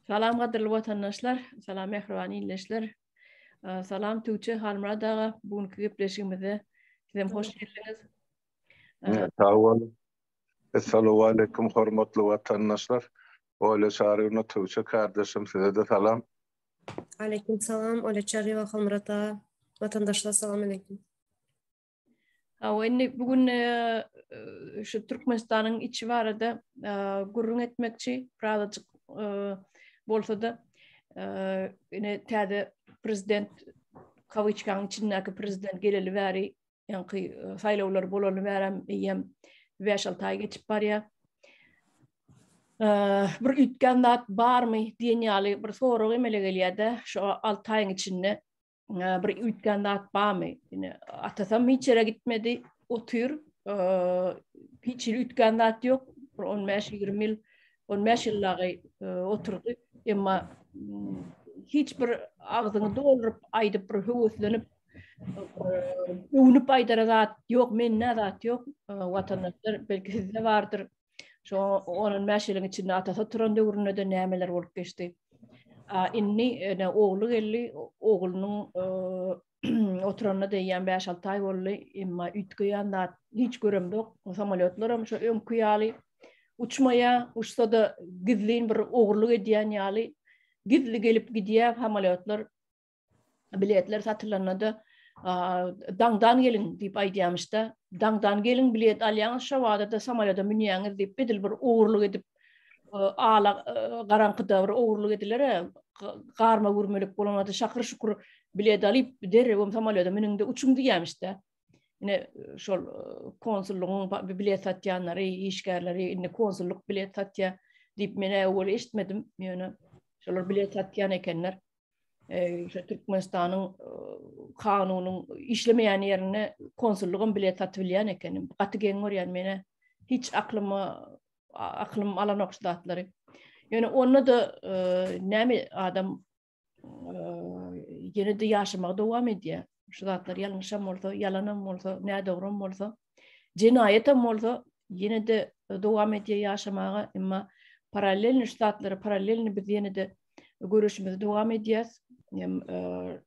Salam gadyrly watandaşlar, salam mähriban ildeşler. Salam Tuçe Halmurad aga, bu günki gepleşigimize sizem hoş geldiňiz. Sag boluň. Assalamu alaykum hormatly watandaşlar. Ola Çaryna Tuçe kardeşim size de salam. Aleyküm salam, Ola Çary we Halmurad aga. Watandaşlar salam aleyküm. Hawa, indi bu gün şu Türkmenistanyň içi barada gürrüň etmekçi, birazajyk bolsa-da, ine täze prezident kawiçkanyň içindäki prezident geleli bäri, ýaňky saýlawlar bolaly bäri eýýäm 5-6 aý geçip barýar. Bir üýtgän zat barmy diýen ýaly bir sorag emele gelýär-de, şu 6 aýyň içinde bir üýtgän zat barmy? Ýene atasam hiç ýere gitmedi, otyr. Hiç ýere üýtgän zat ýok. Bir 15-20 ýyl, 15 ýyl dagy oturdy. Emma hiç bir agzyny dolduryp aýdyp bir höweslenip öwnüp aýdara zat ýok, mende zat ýok. Watandaşlar belki sizde bardyr, Şu on on bäş ýylyň içinde atasy oturan döwründe-de nämeler bolup geçdi. A indi ene ogly geldi, oglunyň oturanyna deýýän bäş-alty aý boldy, emma üýtgeýän zat hiç göremzok. Samolýotlaram şo öňki ýaly uçmaýar, uçsa-da gizlin bir ogurlyk edýän ýaly gizli gelip gidýär samolýotlar. biletler satylanda-da daňdan geliň diýip aýdýamyşda, daňdan geliň bilet alýaňyz, şo wada-da samolýota münýäňiz diýip, edil bir ogurlyk edip, ala garaňkyda bir ogurlyk ediler-ä, garma gurmelik bolanda şakyr-şukur bilet alyp, derrewem samolýota münüň-de uçuň diýýämişde. Ine, şol konsullygyň bilet satýanlary, işgärleri indi konsullyk bilet satýar diýip, men äwwel eşitmedim, ýöne şolar bilet satýan ekenler. şu Türkmenistanyň kanunyň işlemeýän ýerine konsullygym bilet satyp bilýän ekenim. Gaty geň görýän meni. Hiç aklyma aklym alanok şu zatlary. Ýöne onda da näme adam ýene de ýaşamagy dowam edýär. Şu zatlar ýalňyşam bolsa, ýalanam bolsa, nädogrum bolsa, jenaýatam bolsa, ýene de dowam edýär ýaşamaga, emma parallelni şu zatlary parallelni biz ýene de göreşimizi dowam edýäs. Hem e,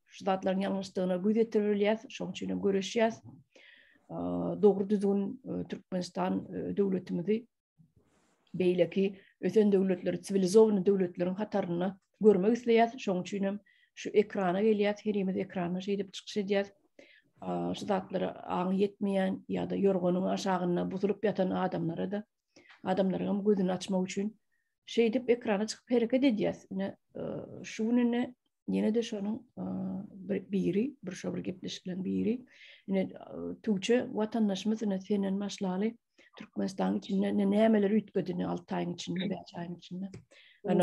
şu zatlaryň ýalňyşdygyna göz ýetirilýär, şonuň üçin hem göreşýär. E, dogry düzgün e, Türkmenistan döwletimizi beýleki ösen döwletleri, siwilizowany döwletleriň hatarynda görmek isleýär. Şonuň üçin hem şu ekrana gelýär, herimiz ekrana şeýdip çykyş edýär. Şu zatlara aňy ýetmeýän ýa-da ýorganyň aşagynda buzulyp ýatan adamlara da adamlaryň gözüni açmak üçin şeýdip ekrana çykyp hereket edýäs. Ine şu gününe ýene de şonuň biri, bir şo bir gepleşikleň biri. Ine Tuğçe watandaşymyz ine senden başlaly Türkmenistan içinde ne nämeler üýtgedini 6 aýyň içinde, 5 aýyň içinde. Ana.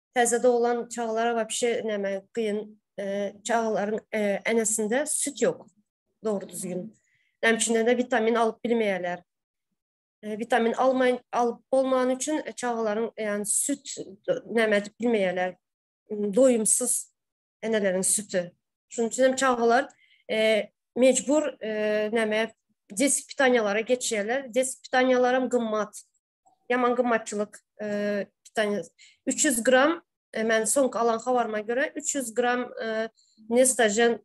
Täze doglan çagalara wapşe näme kyn e, çagalaryň e, enesinde süt ýok. Dogry düzgün. Näme üçin de vitamin alyp bilmeýärler. E, vitamin almaýan alyp bolman üçin çagalaryň ýani süt näme edip bilmeýärler. Doýumsyz eneleriň süti. Şunuň üçin hem çagalar mecbur näme desipitanýalara geçýärler. Desipitanýalar hem gymmat. Ýaman gymmatçylyk pitaniýa. 300 gram men soňky alan habaryma görä 300 gram nestajen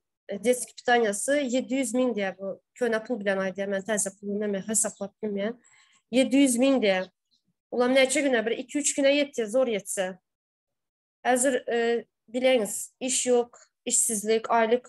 deski pitaniýasy 700 min diýär bu. Köne pul bilen aýdýar men täze pul bilen men hesaplap bilmeýän. 700 min diýär. Ulam näçe güne bir 2-3 güne ýetýär zor ýetse. Häzir bileňiz iş ýok, işsizlik, aýlyk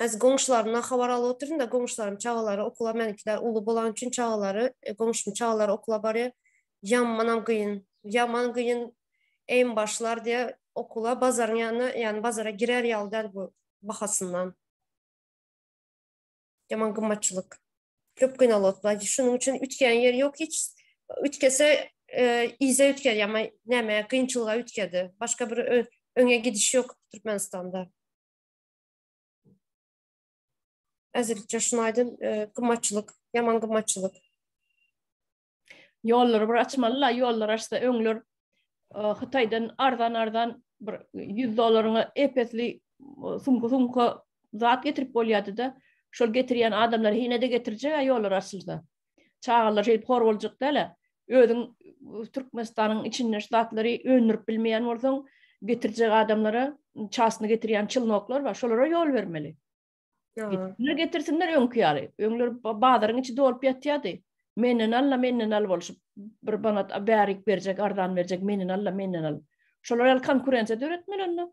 Häzir goňşularymdan habar alyp otyryn-da, goňşularyň çagalary okula, meniňkiler uly bolany üçin çagalary, goňşumyň çagalary okula barýar. Ýamanam gyn, ýaman gyn eým başlar diýe okula bazaryň ýanyna, ýany bazara girer ýaly däl bu bahasyndan. Ýaman gymmatçylyk. Köp gynalyp otyrys. Şunuň üçin üýtgän ýeri ýok hiç. Üýtgese yza üýtger ýa-ma näme, gynçylyga üýtgedi. Başga bir öňe gidiş ýok Türkmenistanda. Äzirlikçe şunu aýdym, gymmatçylyk, ýaman gymmatçylyk. Ýollary bir açmalyla, ýollar açsa öňler Hytaýdan arzan-arzan bir 100 dollaryňa epesli sumka-sumka zat getirip bolýardy-da, şol getirýän adamlar hine-de getirjek-ä ýollar açylsa. Çagalar şeýdip hor boljak däl-ä. Özüň Türkmenistanyň içinde şu zatlary öndürip bilmeýän bolsaň, getirjek adamlara çasyny getirýän çylnoklar bar, şolara ýol bermeli. Getirsinler, getirsinler öňki ýaly. Öňler bazaryň içi dolup ýatýardy. Menden al-la, menden al bolşup, bir manat bärik berjek, arzan berjek, menden al-la, menden al. Şolar ýaly konkurensiýa döretmeli onda.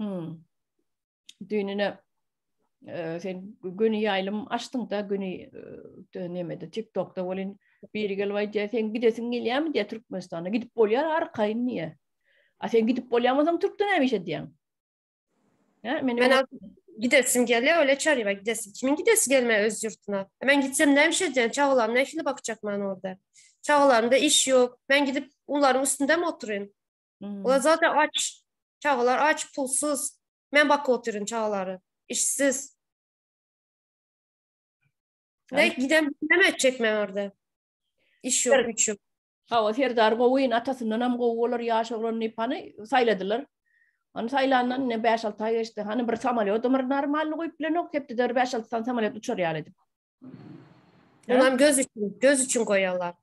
Hmm. Düýnüne e, sen göni ýaýlym açdyň da göni e, nemede TikTokda bolin biri gelip aýdýar sen gidesiň gelýärmi diýe Türkmenistana gidip bolýar arkaýyn diýe. A sen gidip bolýarmyň Türkde näme iş edýäň? Ha men men gidesim gelýär öle çaryba gidesim. Kimin gidesi gelme öz ýurtuna. Men gitsem näme iş edýän çagalarym nähili bakjakman orada. Çagalarymda iş ýok. Men gidip onlaryň üstünde mi oturyn? Olar zaten aç. Çagalar aç, pulsuz. Men bakyp oturuyorum çagaları. İşsiz. Ne giden ne etjek men orada? İş yok, güç yok. Hawa, Serdar gowyň atasyndan hem gowy bolar, ýaş oglan nepany saýladylar. Ony saýlandan ne 5-6 aý geçdi. Hany bir samolyot ömür normalny goýup bilenok, hepdede 5-6 san samolyot uçar ýaly edip. Onam göz üçin, göz üçin goýarlar.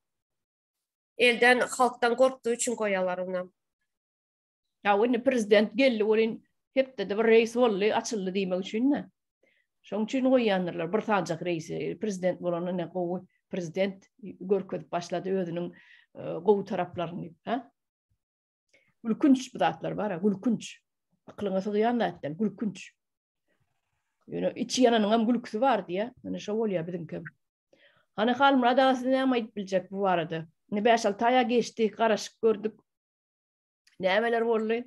Elden halkdan gorkdy üçin goýalar onam. Ýa indi prezident geldi welin hepdede bir reýs boldy açyldy diýmek üçin-dä. Şoň üçin goýýandyrlar bir sanjak reýsi. Prezident bolanda ne gowy prezident görkezip başlady özüniň gowy taraplaryny, hä? Gülkünç bu zatlar bar, gülkünç. Aklyňa sygýan zat däl, gülkünç. Ýöne içi ýananyň hem gülküsi bar diýä. Ýöne şo bolýar biziňki. Hany Halmurad aga siz näme aýdyp biljek bu barada? Ne 5-6 aýa geçdi, garaşyk gördük. Nämeler boldy?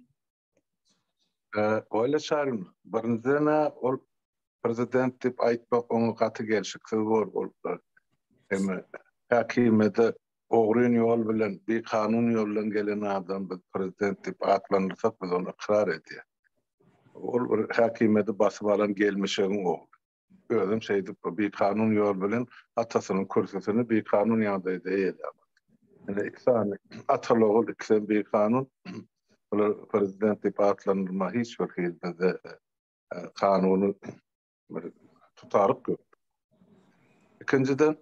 Oýla çarym, birinjiden ol prezident diýip aýtmak oňa gaty gelşiksiz bor boluplar. Hem häkimede Ogryn ýol bilen, bikanun ýoldan gelen adam biz prezident diýip atlandyrsak biz ony ykrar edýäs. Ol bir häkimiýeti basyp alan gelmişegiň ogly. Özem şeýdip bu bikanun ýol bilen atasynyň kürsüsini bikanun ýagdaýda eýeläp aldy. Ine iki sany atal ogul ikisem bikanun bular prezident diýip atlandyrma hiç bir hili bizde kanuny bir tutaryk köp. Ikinciden,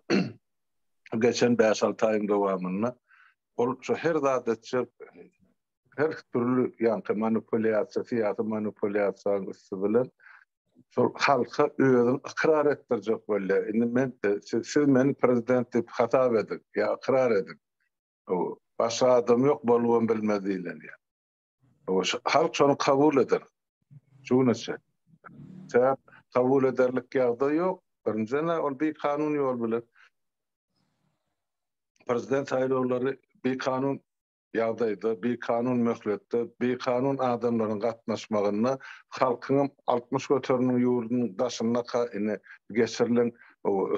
geçen 5-6 aýyň dowamynda ol şu her zat etjek, her türlü ýanky manipulýasiýa, syýasy manipulýasiýanyň üsti bilen şol halka özüni ykrar etdirjek bolýar. Indi men siz, siz meni prezident diýip hasap ediň, ýa ykrar ediň. O başga adam ýok, bolubam bilmez diýlenýär. Halk şony kabul eder. Şu güne çenli. Sebäp kabul ederlik ýagdaý ýok. Birinjiden ol bir kanun ýol bilen prezident saýlawlary bir kanun ýagdaýda, bir kanun möhletde, bir kanun adamlaryň gatnaşmagynda halkyň altmyş göterimiň ýurdunyň daşynda geçirilen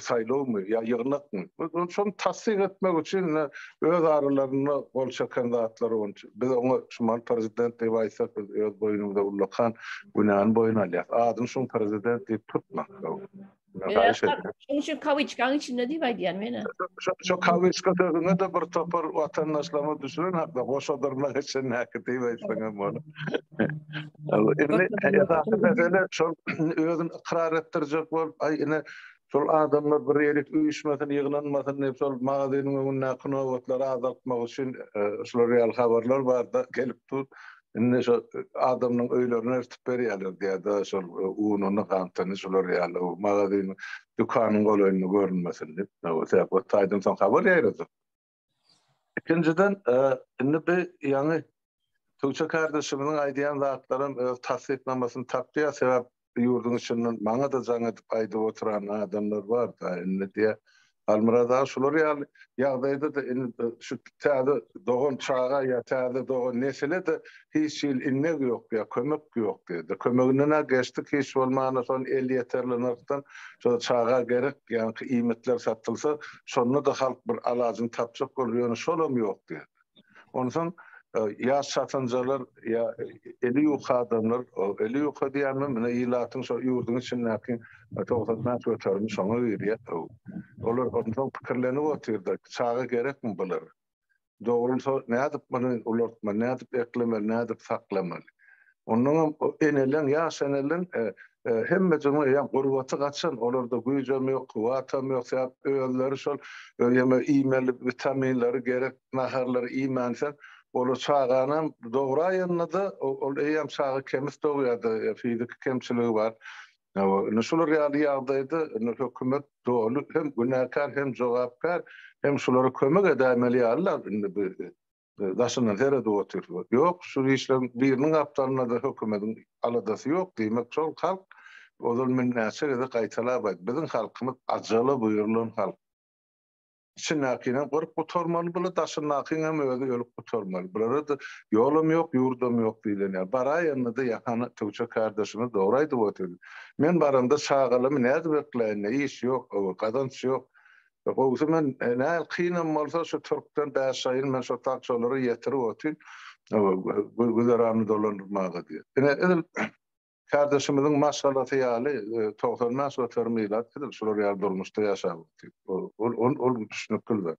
saýlawmy ýa ýygnakmy? Şony tassyk etmek üçin ine öz aralarynda gol çeken zatlary boýunça biz oňa şumal prezident diýip aýtsak biz öz boýnumyza ullakan günäni boýun alýas. Adyny şuň prezident diýip tutma. Haýyş edýän. Şuň üçin kawiçkaň içinde diýip aýdýan men-ä. Şo kawiçka sözüňe-de bir topar watandaşlarymyz düşünen hakda goşadyrnak içindäki diýip aýtsaň hem bolar. Indi esasy mesele şol özüni ykrar etdirjek bolup, aý ine şol adamlar bir ýere üýşmesin, ýygnanmasyn diýip, şol magazynyň öňündäki nobatlary azaltmak üçin şular ýaly habarlar bar-da gelip dur. Indi şo adamlaryň öýlerine eltip berýärler diýýär-de, şol ununy, gantyny şular ýaly magazynyň, dükanyň golaýynda görünmesin diýip. Sebäbi o taýdan soň habar ýaýradyr. Ikinjiden, indi bu ýaňy Tuça kardeşimiziň aýdýan zatlaram öz tassyklamasyny tapýar, sebäp bu ýurduň içinden maňa-da jaň edip aýdyp oturan adamlar bar-da, indi diýe, Halmyrat aga şular ýaly ýagdaýda-da indi şu täze dogan çaga ýa täze dogan nesile-de Hiç hili innek ýok ýa kömek ýok diýdi. Kömeginden-ä geçdik, hiç bolmanda şol elýeterli nyrhdan şo çaga gerek ýaňky iýmitler satylsa, şonda-da halk bir alajyny tapjak bolar, ýöne şolam ýok diýdi. Onsoň ýaş çatynjalar ýa eli ýuka adamlar, eli ýuka diýemem, ine ilatyň şo ýurduň içindäki togsan bäş göterimi şoňa girýär. Olar onsoň pikirlenip otyrdy, çaga gerekmi bulara? Dogrumsow nädip muny ulaltmaly, nädip eklemeli, nädip saklamaly? Onnoň hem o eneleň, ýaş eneleň hemme jyny ýa gurbaty gaçan, olarda güýjem ýok, kuwwatam ýok, sebäp özleri şol ýeme iýmeli witaminleri gerek naharlary iýmänsoň, olar çagany hem dograýanda-da, ol eýýäm çaga kemis dogýar-da, fiziki kemçiligi bar. Ine şular ýaly ýagdaýda indi hökümet doly hem günäkär hem jogapkär hem şulara kömek edäýmeli ýalylar indi bu daşyndan seredip otyr. Ýok şu işleriň biriniň gapdalynada hökümediň aladasy ýok diýmek şol halk ozal men näçe gezek gaýtalap aýt biziň halkymyz ajala buýrulan halk. Içindäkinem gyryp gutarmaly bula daşyndakyňam özi ölüp gutarmaly bulara-da ýolam ýok ýurdam ýok diýlen ýaly baraýanda-da ýahany Tüwçe kardeşimiz dogry aýdyp otyr men baramda çagalamy nädip bekläýin-le iş ýok ow gazanç ýok gowusy men näl kynam bolsa şu türkden bäş aýyn men şo tak şolara ýetirip otyn güzerany dolandyrmaga diýip ine edil Kardeşimiziň maşgalasy ýaly togsan bäş göterim ilat biziň şular ýaly durmuşda ýaşap otyrys. Ol ol düşnükli zat.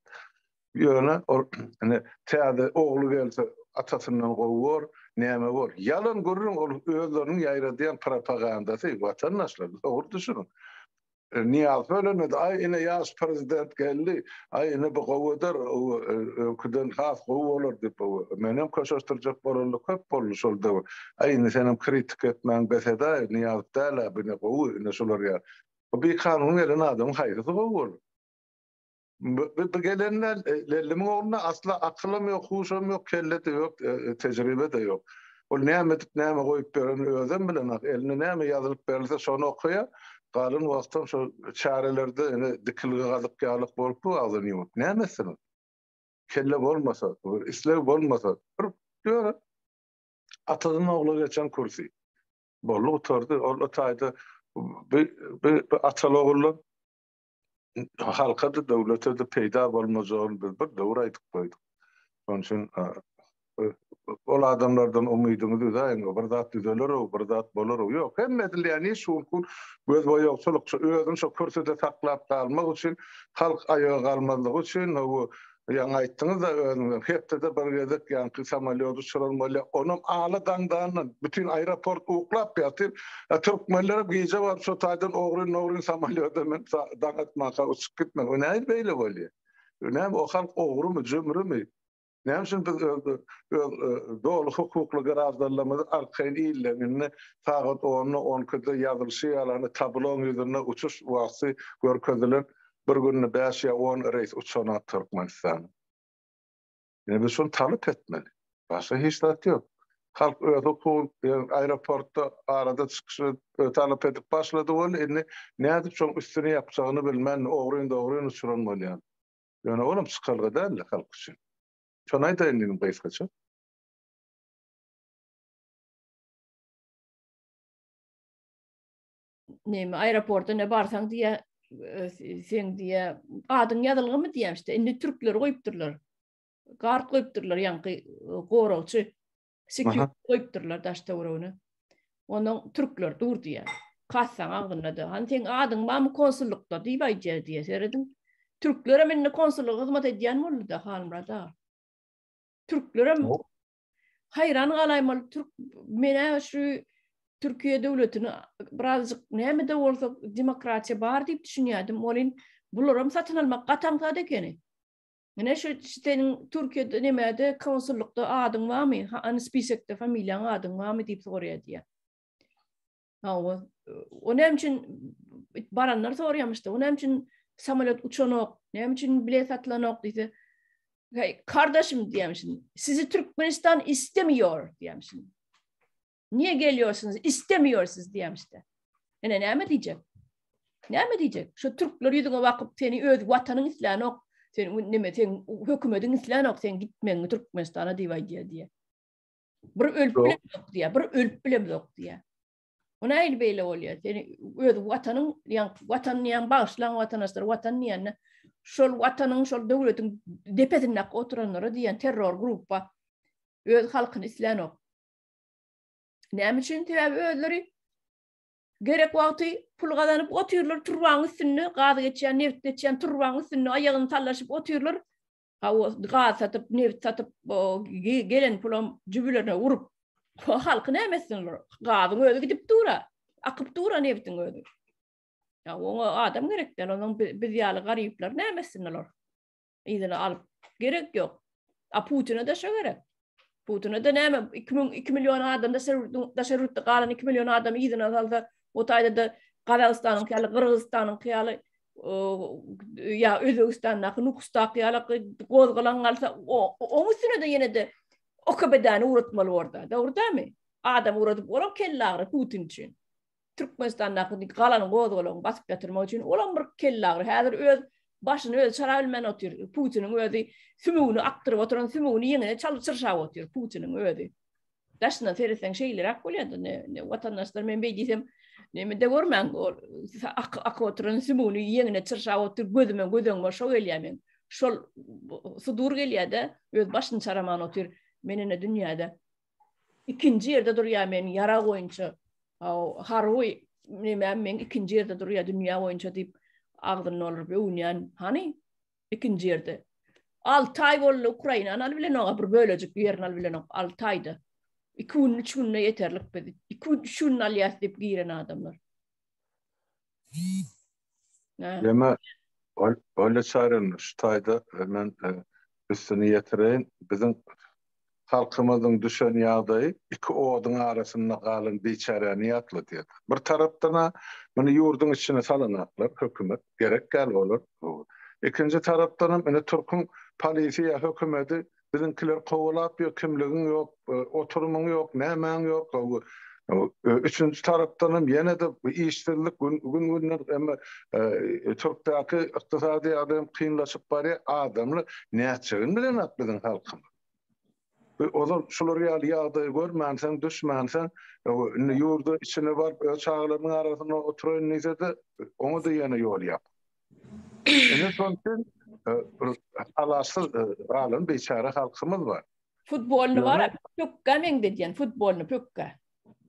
Ýöne ol ine täze ogly gelse atasyndan gowy bor, näme bor. Ýalan gürrüň ol özleriniň ýaýradýan propagandasy watandaşlar dogry düşüniň. Nyýaz bölünmedi. Aý, ine ýaş prezident geldi. Aý, ine bu gowy eder. Öňküden has gowy bolar diýip, menem köşeşdirjek bolaly köp boldy şol döwür. Aý, indi senem kritika etmäň bes ed-aý, Nyýaz däl-ä, bu ine gowy, ine şular ýaly. Bu bikanun gelen adamyň haýsysy gowy bolar? Bu gelenler Lelimiň ogluna asla akylam ýok, huşam ýok, kelle-de ýok, tejribe-de ýok. Ol näme edip, näme goýup berenini özem bilenok. Eline näme ýazylyp berilse, şony okaýar. Galan wagtam şol çärelerde ine dikilgi gazyk ýalyk bolup dur agzyn ýumup. Näme etsin ol? Kelle bolmasa, bir isleg bolmasa, bir ýöne atadan ogla geçen kürsi. Boldy gutardy. Ol taýda bu ataly-ogully halka-da, döwlete-de peýda bolmajagyny biz bir döwür aýdyp goýduk. Şonuň üçin ol adamlardan umydyňyzy üzäýiň, bir zat düzeler-ow, bir zat bolar-ow. Ýok, hemme edilýän iş şol hut gözboýagçylykça, özüni şo kürsüde saklap galmak üçin, halk aýaga galmazlygy üçin, Ýaňy aýtdyňyz-da özüňizem, hepdede bir gezek ýaňky samolýot uçuran bolýar, onam ala daňdandan, bütin aeroport uklap ýatyr, a türkmenlerem gije baryp şo taýdan ogryn-nogryn samolýoda menip daň atmanka uçup gitmek, bu nähili beýle bolýar? Bu näme, o halk ogrymy, jümrümi? Näme üçin biz öz doly hukukly graždanlarymyzy arkaýyn illerinde sagat onda, on ikide ýazylyşy ýaly, tablonyň ýüzünde uçuş wagty görkezilen Bir günde bäş ýa on reýs uçana Türkmenistana. Ine biz şuny talap etmeli. Başga hiç zat ýok. Halk öz hukugyny ýöne aeroportda arada çykyşy talap edip başlady boldy. Indi nädip şoň üstüni ýapjagyny bilmän ogryn-dogryn uçuran bolýar. Ýöne olam çykalga däldi halk üçin. Şony aýdaýyn diýdim gysgaça. näme aeroporta ne barsaň diýä e, sen diýä adyň ýazylgymy diýä işte indi türkleri goýupdyrlar gard goýupdyrlar ýaňky e, goragçy sikýut goýupdyrlar daş töweregine onuň türkler dur diýä kassaň agzynda da han sen adyň bamy konsullykda diýip aýdýar diýä serediň türkler hem indi konsullyga hyzmat edýän boldy da halmyrada türkler hem Haýran galaýmaly türk menä şu Türkiýe döwletini birazjyk näme-de bolsa demokratiýa bar diýip düşünýärdim. Welin bularam satyn almak gaty aňsat ekeni. Menä şu seniň Türkiýede näme-de konsullykda adyň barmy? Ha, spisekde familiýaň adyň barmy diýip soraýar diýýär. Hawa. O näme üçin baranlar soraýamyşdy. O näme üçin samolet uçanok? Näme üçin bilet satlanok diýse, "Hey, kardeşim" diýemşin. "Sizi Türkmenistan istemiyor" diýemşin. "Niye geliyorsunuz? İstemiyor siz" diýemşde. Ene näme diýjek? Näme diýjek? Şu türkler ýüzüňe bakyp, seni öz watanyň islänok. Sen näme, sen hökümetiň islänok, sen gitmegiňi Türkmenistana diýip aýdýar diýe. Bir ölüp bile yok diye, bir ölüp bile yok diye. O neyle böyle oluyor? Seni öz vatanın, yani vatan yani bağışlan vatandaşlar, vatan yani şol vatanın, şol devletin depesinde oturanlara diyen terror grupa öz halkını isteyen yok. Näme üçin sebäbi özleri gerek wagty pul gazanyp otyrlar turbaň üstünde, gaz geçýän, neft geçýän turbaň üstünde aýagyny tallaşyp otyrlar. Hawa, gaz satyp, nebit satyp, gelen pulam jübülerine urup, halky näme etsin olar? Gazyň özi gidip dur-a, akyp dur-a nebitiň özi. Ya oňa adam gerek däl, onuň biz ýaly garyplar näme etsin olar? Yzyna alyp gerek ýok. A Putine-de şo gerek. Putine de näme 2 müň 2 million adam daşary ýurtda daşary ýurtda galan 2 million adam ýygyna salsa, o taýda da Gazagystanyň ýaly, Gyrgyzystanyň ýaly ýa Özbegistandaky nukusdaky ýaly gozgalan galsa, oň üstüne de ýene de OKB-däni uratmaly orada. Dogry dämi? Adam uradyp, olam kelle agyry Putin üçin. Türkmenistandaky galan gozgalaňy basyp ýatyrmak üçin olam bir kellagyry. Häzir öz başyny özi çara bilmän otyr. Putiniň özi sümügini akdyryp oturan sümügini ýeňine çalyp çyrşap otyr Putiniň özi. Daşyndan seretseň şeýleräk bolýardy. Ne, ne watandaşlar men beý diýsem nemede görmäň ol ak ak oturan sümügini ýeňine çyrşap otyr gözüme gözeňme şo gelýär men. Şol sudur gelýär-de öz başyny çaraman otyr. Men ene dünýäde ikinji ýerde durýar men ýarag boýunça harby nämem men ikinji ýerde durýar dünýä boýunça diýip agzyny dolduryp öwünýän hany ikinji ýerde alty aý boldy ukrainany alyp bilen oňa bir bölejik ýerini alyp bilenok alty aýda iki gün üç günde ýeterlik biz iki üç günde alýas diýip giren adamlar Ýöne Olýa Çaryna şu taýda men üstüni ýetireýin, biziň halkymyzyň düşen ýagdaýy iki oduň arasynda galan biçäräni ýatladýar. Bir tarapdan-a muny ýurduň içine salanaklar, hökümet, gerek däl olar. Ikinji tarapdanam indi türküň polisiýa hökümeti Biziňkiler kowalap ýör, kimligiň ýok, oturymyň ýok, nämäň ýok. Üçünji tarapdanam ýene-de işsizlik gün-günden emma Türkdäki ykdysady ýagdaýam kynlaşyp barýar. Adamlar nätjegini bilenok biziň halkymyz. Ozal şular ýaly ýagdaýy görmänsoň, düşmänsoň, indi ýurda içine baryp, öz çagalarynyň arasynda oturaýyn diýse-de, oňa-da ýene ýol ýok. Ene şoň üçin alaçsyz galan biçäre halkymyz bar. Futbolyny bar, pökgä meňzedýän, futbolyny pökgä.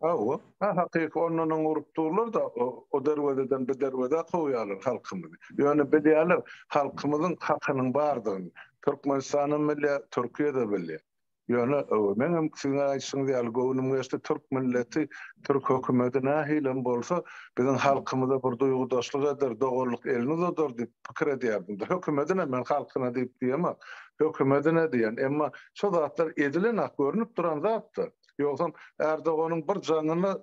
Hawa, hakyky ondan oň urup durlar-da, o derwezeden bu derwezä kowýarlar halkymyzy. Ýöne bilýärler, halkymyzyň hakynyň bardygyny. Türkmenistanyň bilýär, Türkiýe-de bilýär. Ýöne meňem siziň aýdyşyňyz ýaly göwnüm geçdi, türk milleti, türk hökümeti nähilem bolsa biziň halkymyza bir duýgudaşlyk eder, doganlyk elini uzadar diýip pikir edýärdim-de. Hökümetine men halkyna diýip diýemok. Hökümetine diýen. Emma şo zatlar edilen-ak, görnüp duran zat-da. Ýogsam Ärdoganyň bir jaňyna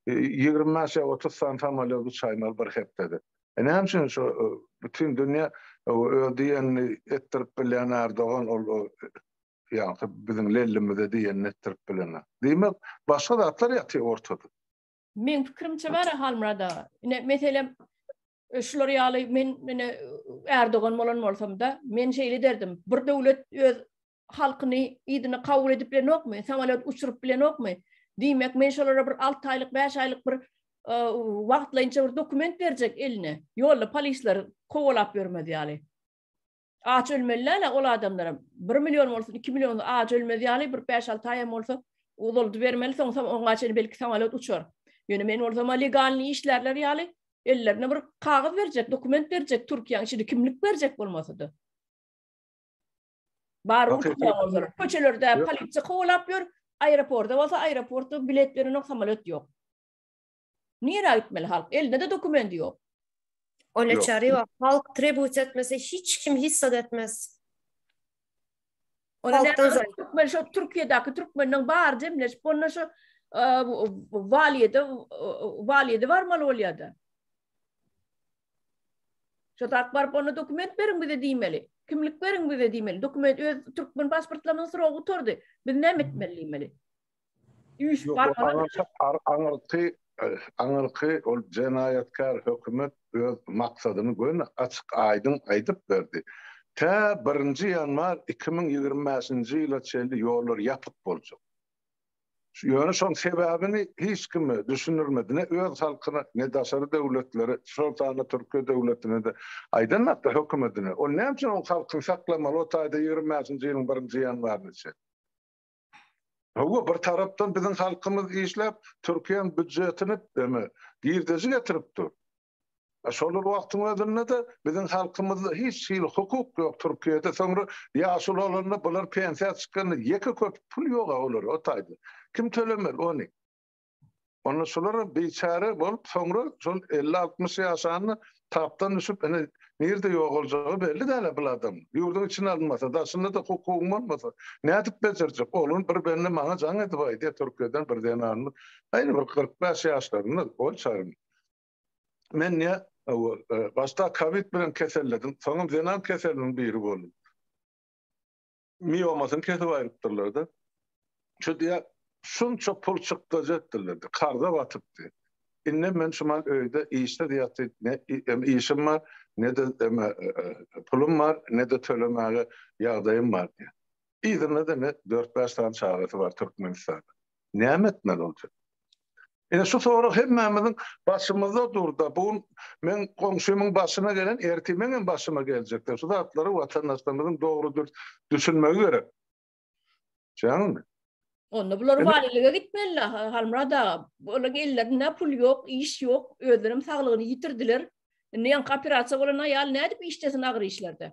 ýigrimi bäş ýa otuz sany samolýot uçaýmaly bir hepdede. Näme üçin şo bütin dünýä öz diýenini etdirip bilýän Ärdogan ol ýagty biziň lellimize diýen netdirip bilene. Diýmek, başga zatlar ýatyr ortada. Meň pikirimçe bar a Halmyrat aga. Ine, meselem, şular ýaly men ine Erdogan bolan bolsam-da, men şeýle ederdim. Bir döwlet öz halkyny yzyna kabul edip bilenokmy, samolýot uçuryp bilenokmy? Diýmek, men şolara bir alty aýlyk, bäş aýlyk bir wagtlaýynça bir dokument berjek eline. Ýolda polisler kowalap ýörmez ýaly. Aç ölmeli däl-ä ol adamlaram. Bir million bolsun, iki million aç ölmez ýaly bir bäş-alty aýam bolsa uzalydybermeli, soňsam oňa çenli belki samalýot uçar. Ýöne men bolsam-a legalnyý işlärler ýaly ellerine bir kagyz berjek, dokument berjek Türkiýäň içinde kimlik berjek bolmasa-da. Bar uçýan bolsalar. Köçelerde polisiýa kowalap ýör, aeroportda bolsa aeroportda bilet berenok, samalýot ýok. Nirä gitmeli halk? Elinde-de dokument ýok. Öyle Yok. çare yok. Halk tribut etmese hiç kim hissat etmez. Ona Halkdan zaten zaten. Türkmen şu Türkiye'deki Türkmenlerin bar demleşip onda şu e, valiyede e, valiyede varmalı oluyor da. Şu tak barıp ona dokument verin bize diýmeli. Kimlik verin bize diýmeli. Dokument öz Türkmen pasportlarynyň soragy oturdy. Biz näme etmeli diýmeli. Üýşüp barmaly. Aňyrky, aňyrky ol jenaýatkär hökümet öz maksadyny göni açyk aýdyň aýdyp berdi. Tä birinji ýanwar iki müň ýigrimi bäşinji ýyla çenli ýollar ýapyk boljak. Ýöne şoň sebäbini hiç kime düşündirmedi. Ne öz halkyna, ne daşary döwletlere, şol sanda Türkiýe döwletine-de aýdanokda, hökümetine. Ol näme üçin ol halkyny saklamaly o taýda ýigrimi bäşinji ýylyň birinji ýanwaryna çenli? Hawa, bir tarapdan biziň halkymyz işläp, Türkiýäň býudjetini eme, girdeji getirip dur. A şol bir wagtyň özünde-de biziň halkymyzda hiç hili hukuk ýok Türkiýede. Soňra ýaşuly bolanda bular pensiýa çykanda ýeke köpük pul ýog-a olara o taýda. Kim tölemeli ony? Onda şular biçäre bolup, soňra şol 50-60 ýaşanda tapdan düşüp, ine nirde ýogaljagy belli däl-ä bul adam. Ýurduň içine alynmasa, daşynda-da hukugyň bolmasa, nädip bejerjek? Oglan bir bende maňa jaň edip aýdýar, Türkiýeden bir zenanymyz, aýry bir kyrk bäş ýaşlarynda, ol çagyň. Men nä, başda kowid bilen keselledim, soňam zenan keseliniň biri boldum. miomasyny kesip aýrypdyrlar-da. Şu diýýär, şunça pul çykdajy etdirlerdi, karza batypdy. Indem men şuman öýde işsiz ýatyp, ne işim bar, ne-de pulum bar, ne-de tölemäge ýagdaýym bar diýýär. Yzynda-da ine, dört-bäş sany çagasy bar Türkmenistanda. Näme etmeli bolýar? Ine şu sorag hemmämiziň başymyzda dur-da, bu gün meň goňşymyň başyna gelen ertir meňem başyma geljekdir. Şu zatlary watandaşlarymyzyň dogry-dürs düşünmegi gerek. Düşýäňizmi? Onda bular walilige gitmeli-la, Halmyrat aga. Olaryň ellerinde pul ýok, iş ýok, özlerem saglygyny ýitirdiler. Indi ýaňky operasiýa bolan aýal nädip işlesin agyr işlerde?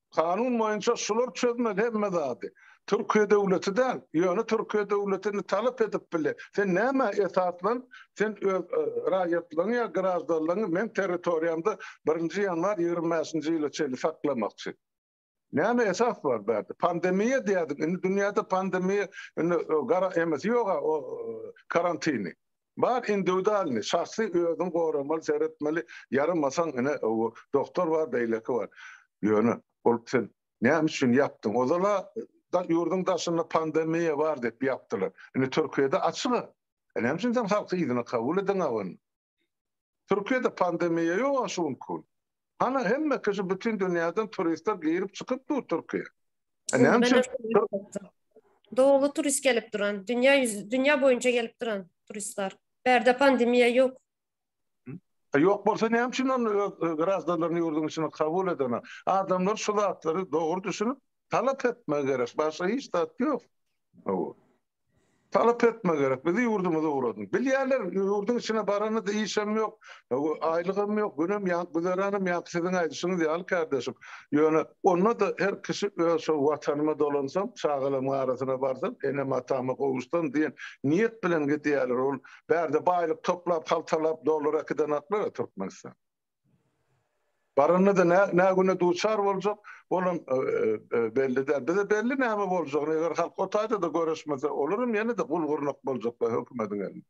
Kanun boýunça şular çözmez hemme zady. Türkiýe döwleti däl, ýöne Türkiýe döwletini talap edip bile. Sen nämä esaslan, sen öz raýatlaryňy ýa graždanlaryňy meň territoriýamda birinji ýanwar ýigrimi bäşinji ýyla çenli saklamakçy? Näme esas bar bärde? Pandemiýa diýýärdiň, indi dünýäde pandemiýa, indi gara emesi ýog-a o karantini. Bar indiwidalny, şahsy özüň goramaly seretmeli ýaramasaň ine owo doktor bar beýleki bar ýöne ol sen näme üçin ýapdyň ozala da ýurduň daşynda pandemiýa bar diýip ýapdylar indi türkiýede açyga e näme üçin sen halky yzyna kabul edeňagyn türkiýede pandemiýa ýoga şu günki gün. Hany hemme kişi bütün dünýäden turistler girip çykyp dur Türkiýe. E, Näme üçin? Doglu turist gelip duran, dünýä dünýä boýunça gelip duran turistler. Bärde pandemiýa ýok. Ýok bolsa näme üçin onda öz grazdanlaryny ýurduň içine kabul edene? Adamlar şu zatlary dogry düşünip, talap etmegi gerek. Başga hiç zat ýok. Talap etme gerek, bizi ýurdumyza ugradyň. Bilýärler, ýurduň içine baranyňyzda işem ýok, aýlygam ýok, günem ýank, güzeranam ýank, siziň aýdyşyňyz ýaly kärdeşim. Ýöne, onda-da her kişi öz şol Watanyma dolansam, çagalarymyň arasyna barsam, enem-atama gowuşsam diýen niýet bilen gidýärler. Ol bärde baýlyk toplap, haltalap, dollar äkidenaklar-a Türkmenistana. Baranda-da nä, nä güne duçar boljak, olam belli däl. Bize belli näme boljagyny, eger halk o taýda-da göreşmese, olaram ýene-de gul-gurnak boljaklar hökümediň elinde.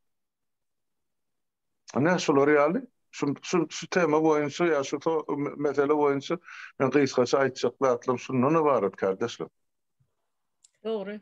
Ine, şular ýaly. Şu, şu, şu tema boýunça ýa şu to, mesele boýunça men gysgaça aýtjak zatlarym şundan ybarat, kardeşler. Dogry.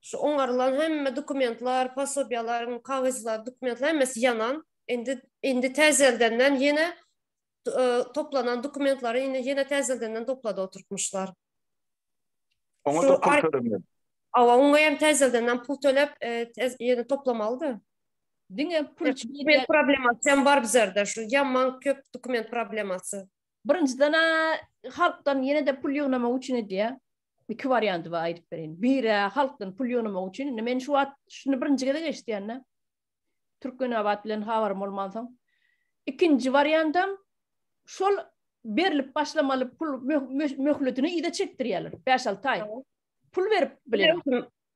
Şu oňarylan hemme dokumentler, posobiýalar, kagyzlar, dokumentler hemmesi ýanan. Indi indi täzeldenden ýene toplanan dokumentleri indi ýene täzeldenden toplada oturtmuşlar. Oňa da pul tölemeli. Awa, oňa hem täzeldenden pul tölep, ýene toplamalydy. Diňe pul üçin dokument problemasy hem bar bizerde. Şu ýaman köp dokument problemasy. Birinjiden-ä halkdan ýene-de pul ýygnamak üçin edýär. iki warianty bar aýdyp bereýin. Biri halkdan pul ýygnamak üçin, indi men şu wagt şuny birinji gezek eşitýän-de. Türkmenabat bilen habarym bolmansoň. Ikinji wariantam şol berlip başlamaly pul möhletini ýa-da çekdirýärler, bäş-alty aý. Pul berip bilenem.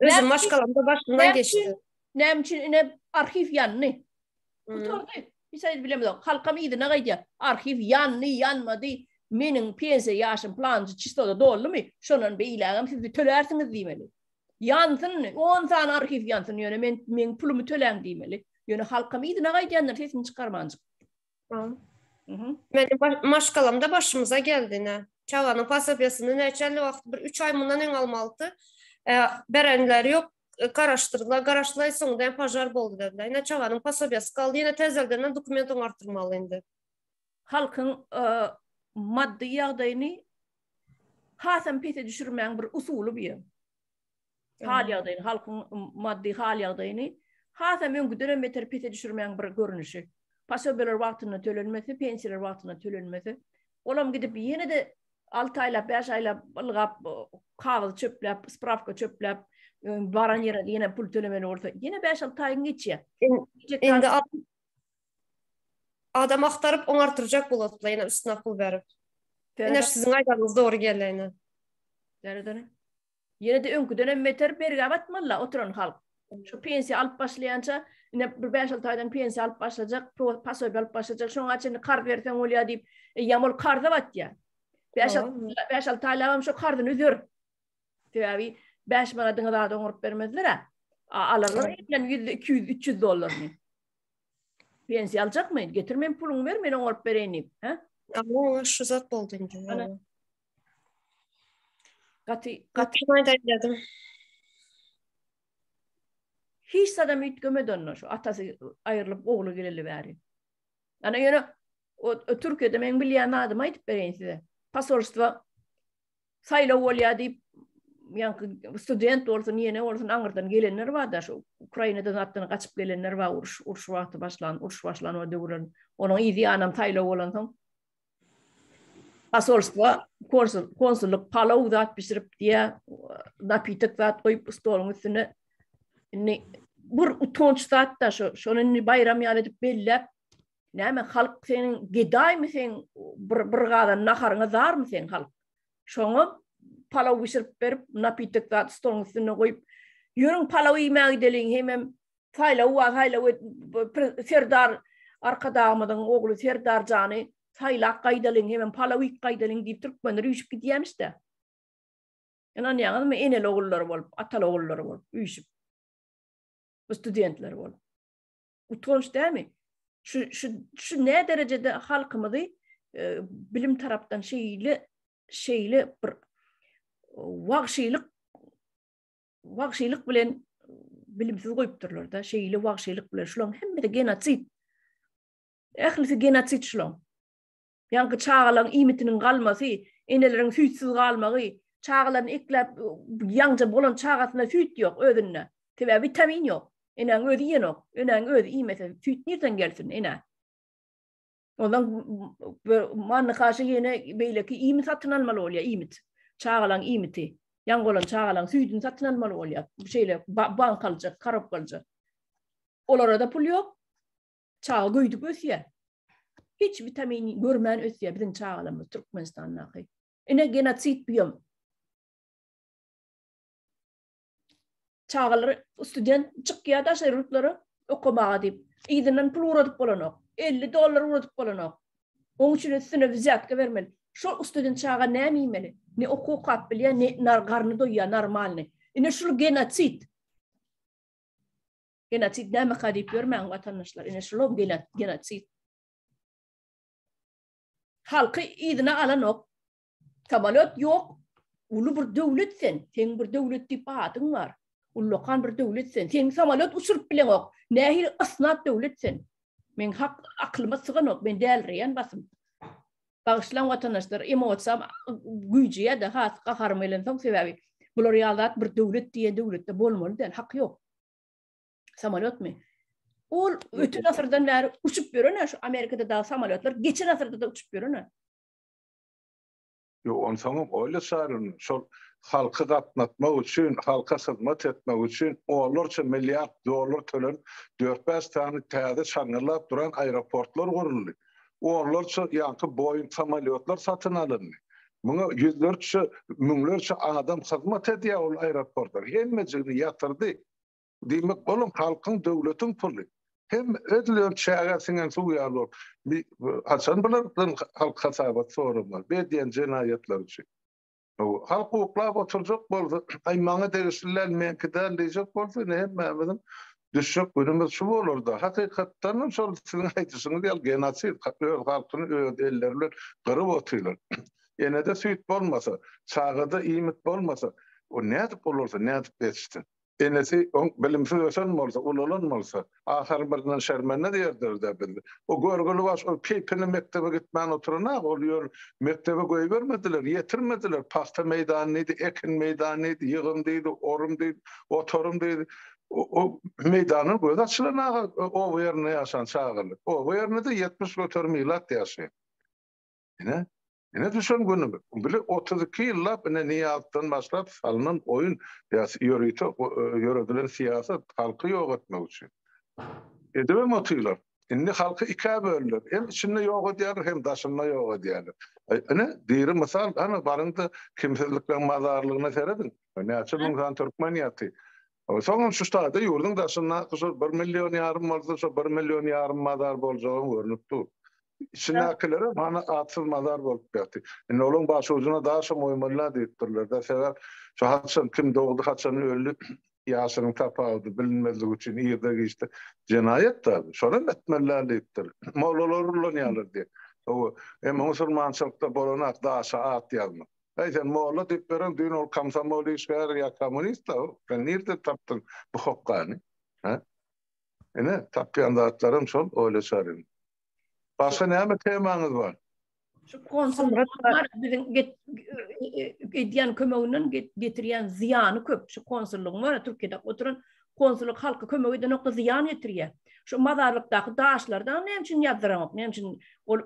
Özüm maşgalamda başyndan geçdi. Näme üçin ine arhiw ýandy? Gutardy. Hiç aýdyp bilemizok. Halkam yzyna gaýdýar. Arhiw ýandy, ýanmady. Meniň pensiýa ýaşym planjy çistoda doldumy? Şondan beýlägem siz bir tölärsiňiz diýmeli. Ýansyn, 10 sany arhiw ýansyn, ýöne men meniň pulumy töläň diýmeli. Ýöne halkam yzyna gaýdýandyr, sesini çykarmanjyk. Meniň maşgalamda başymyza geldi ine. Çaganyň posobiýasyny näçäli wagt, bir üç aý mundan öň almalydy. Berenleri ýok, garaşdyrdylar, garaşdylar, soňunda hem požar boldy dediler. Ine, çaganyň posobiýasy galdy, ýene täzeldenden dokument oňartdyrmaly indi. Halkyň maddy ýagdaýyny hasam pese düşürmäň bir usuly bu ýa. hal ýagdaýyny, halkyň maddy hal ýagdaýyny has hem öňküden hem beter pese düşürmegiň bir görnüşi. Posobiýalar wagtynda tölenmese, pensiýalar wagtynda tölenmese, olam gidip ýene-de 6 aýlap, 5 aýlap ylgap, kagyz çöpläp, sprawka çöpläp, baran ýere ýene pul tölemeli bolsa, ýene 5-6 aýyň geçýär. Indi Adam agtaryp oňartyrjak bolatla ýene üstüne pul berip. Ine siziň aýdanyňyz dogry gelende. Dere dere. Ýene de öňküden hem beter bergä batmalyla oturan halk. Şu pensiýa alyp başlaýança ine bir bäş alty aýdan pensiýa alyp başlajak, pasobiýa alyp başlajak, şoňa çenli karz berseň bolýa diýip, eýýäm ol karza batýa. Bäş alty bäş alty aýlabam şo karzyny üzer. Sebäbi bäş manadyňy zada oňaryp bermezler-ä. Alarlar elden ýüz, iki ýüz, üç ýüz dollaryny. Pensiýa aljakmy? Getir men puluňy ber, men oňaryp bereýin diýip, hä? Ama oňa şu zat boldy indi. Ana. Gaty gaty Gatymaý daýladım. hiç adam üýtgemedi onda şu atasy aýrylyp ogly geleli bäri. Ana ýöne o, o Türkiýede meň bilýän adymy aýdyp bereýin size. Posolstwa saýlaw bolýar diýip ýaňky student bolsun, ýene bolsun aňyrdan gelenler bar-da, şu Ukrainadan zatdan gaçyp gelenler bar, uruş, uruş wagty başlan, uruş başlan o döwürler. Onuň yzy ýanam saýlaw bolansoň, posolstwa konsul, konsullyk palaw zat bişirip diýä, napitek zat goýup stoluň üstüne. Indi bir utanç zat-da şu, şony indi baýram ýaly edip belläp, Näme halk seniň gedaýmy sen bir bir gadan naharyňa zarmy sen halk? Şoňa palaw bişirip berip, napitek zat stoluň üstünde goýup, ýörüň palaw iýmäge gideliň hemem saýlaw wa saýlaw et, serdar arkadagymyzyň ogly serdar jany saýlap gaýdalyň hemem palaw iýip gaýdalyň diýip türkmenler üýşüp gidýämişde. Ynanýaňyzmy eneli ogullary bolup, ataly ogullary bolup üýşüp. Bu studentler bolup. Utanç dämi? Şu şu şu ne derejede halkymyzy e, bilim tarapdan şeýle şeýle bir wagşylyk wagşylyk bilen bilimsiz goýupdyrlar da şeýle wagşylyk bilen şularyň hemmesi genotsid. Ählisi genotsid şularyň. Ýaňky çagalaryň iýmitiniň galmasy, eneleriň süýtsiz galmagy, çagalaryny ekläp ýaňja bolan çagasynda süýt ýok özünde. Sebäbi witamin ýok. Enäň özi iýenok. Enäň özi iýmese süýt nirden gelsin enä? Ondan manny kaşa ýene beýleki iýmit satyn almaly bolýar, iýmit. Çagalaryň iýmiti. Ýaň bolan çagalaryň süýdüni satyn almaly bolýar. Şeýle bankalyjak, korobkalyjak. Olara-da pul ýok. Çaga göýdük ösýär. Hiç witamin görmän ösýär biziň çagalarymyz Türkmenistandaky. Ine genosid bu hem. Çagalar student çykýar daşary ýurtlara okamaga diýip, yzyndan pul ugradyp bolanok. 50 dollar ugradyp bolanok. Oň üçin üstüne wizýatka bermeli. Şol student çaga näme iýmeli? Ne oku okap bilýär, ne nar garny doýýar normalny. Ine şul genosid. Genotsid nämeka diýip ýörmäň watandaşlar, ine şulam genotsid. Halky yzyna alanok. Samolýot ýok. Uly bir döwlet sen, seň bir döwlet diýip adyň bar. Ullakan bir döwlet sen. Seň samolýot uçuryp bileňok. Nähili ysnat döwlet sen. Men hak aklyma syganok, men dälreýän basym. Bagyşlaň watandaşlar, emosiýam güýjeýär-de, has gaharym gelensoň sebäbi bular ýaly zat bir döwlet diýen döwletde bolmaly däl, hak ýok. Samolýotmy? Ol ötün asyrdan bäri uçup ýören, şu Amerikada dagy samolýotlar geçen asyrda-da uçup ýören. Ýok, on soň öyle çaryn, şol halky gatnatmak üçin, halka hyzmat etmek üçin onlarça milliard dollar tölenip, dört-bäş sany täze şaňňyrdap duran aeroportlar guruldy. onlarça ýaňky Boeing samolýotlar satyn alyndy. Muňa ýüzlerçe, müňlerçe adam hyzmat edýär ol aeroportlar. Hemmejigini ýatyrdy. Diýmek, olam halkyň, döwletiň puly. Hemme özlerini çägä siňen suw ýaly bolup, haçan bulardan halk hasabat soramaz, bu edýän jenaýatlary üçin. Halk uklap oturjak bolsa, Aý, maňa degişli däl, meňki däl diýjek bolsa, ine, hemmämiziň düşjek günümiz şu bolardy. Hakykatdanam, şol siziň aýdyşyňyz ýaly, genosid, öz halkyny öz elleri bilen gyryp otyrlar. Enede süýt bolmasa, çagada iýmit bolmasa, o nädip ulalsyn, nädip ýetişsin? Enesi oň bilimsiz ösen bolsa, ulalan bolsa, ahyryn birinden şermende diýerdiler-dä biz. O görgüli baş, ol keýpine mekdebe gitmän oturanok, ol ýöl mekdebe goýbermediler, ýetirmediler. Pagta meýdany diýdi, ekin meýdany diýdi, ýygym diýdi, orym diýdi, otarym diýdi. O meýdandan gözi açylanok-a oba ýerinde ýaşan çagalar. Oba ýerinde-de ýetmiş göterim ilat ýaşaýar. Ine, ine düşen günümiz. Bile 32 ýyllap ine Niýazdan başlap salnan oýun, ýa-da ýörite ýöredilen syýasat halky ýok etmek üçin. Edibem otyrlar. Indi halky ikä böldüler. Hem içinde ýok edýärler, hem daşynda ýok edýärler. Ine, diri mysal, hany baryň-da kimsizlikleň mazarlygyna serediň. Näçe müň sany türkmen ýatyr. Soňam şu ştada ýurduň daşyndaky şol bir million ýarym bolsa şo bir million ýarym mazar boljagam görnüp dur. Içindakilerem hany atsyz mazar bolup ýaty. Indi olaň başujuna daşam goýmalyla diýipdirlerde sebäp şo haçan kim dogdy haçan öldi ýaşynyň tapawudy bilinmezligi üçin irde giçde jenaýat da bu. Şonam etmeliler diýipdir. Mollalar ullanýarlar diýip. Emma musulmançylykda bolanok daşa at ýazmak. Aý sen molla diýip berin düýn ol komsomol işgäri ýa kommunist-a ol. Sen nirden tapdyň bu hokgany? Hä? Ine, tapýan zatlarym şol oýlaşaryn. Başga näme temaňyz bar? Şu konsullar biziň edýän kömeginden getirýän zyýany köp. Şu konsullygyň bar-a Türkiýede oturan Konsullyk halka kömek edenokda zyýan ýetirýä. Şu mazarlykdaky daşlary daňy näme üçin ýazdyraňok? Näme üçin ol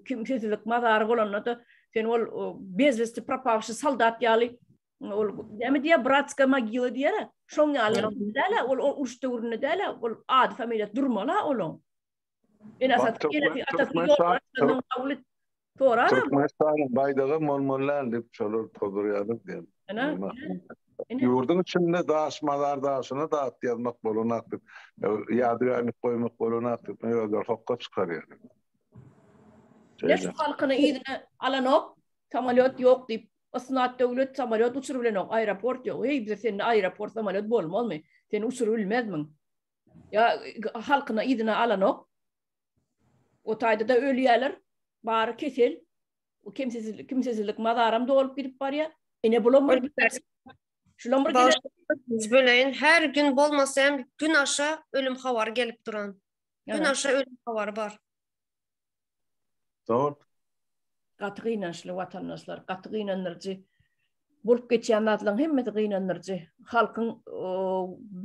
kimsesizlik mazary bolandada sen ol bezvesti propawşi soldat ýaly ol näme diýýä bratska mogila diýýä. Şoň ýaly dälä ol uruş döwründe dälä ol ady familiýasy durmala oluň. Türkmenistanyň baýdagy molmollan diýip şolar tozurýarlar diýen. Ýurduň içinde daş mazar daşyna da at ýazmak bolanak diýip, ýadygärlik goýmak bolanak diýip özleri hokga çykarýarlar. Leş halkyny yzyna alanok, samolýot ýok diýip, ysnat döwlet samolýot uçuryp bilenok, aeroport ýok. Heý, bize sende aeroport, samolýot bolmazmy? Sen uçuryp bilmezmiň? ýa halkyny yzyna alanok. O taýda da ölýärler. Bary kesel. O kimsesizlik, kimsesizlik mazaram dolup gidip barýar. Ine bulam bir Şulam bir gelen. Böleýin. Her gün bolmasa hem gün aşa ölüm habary gelip duran. Gün aşa ölüm habary bar. Zor. Gaty gynançly watandaşlar, gaty gynandyryjy. Bolup geçýän zatlaryň hemmesi gynandyryjy. Halkyň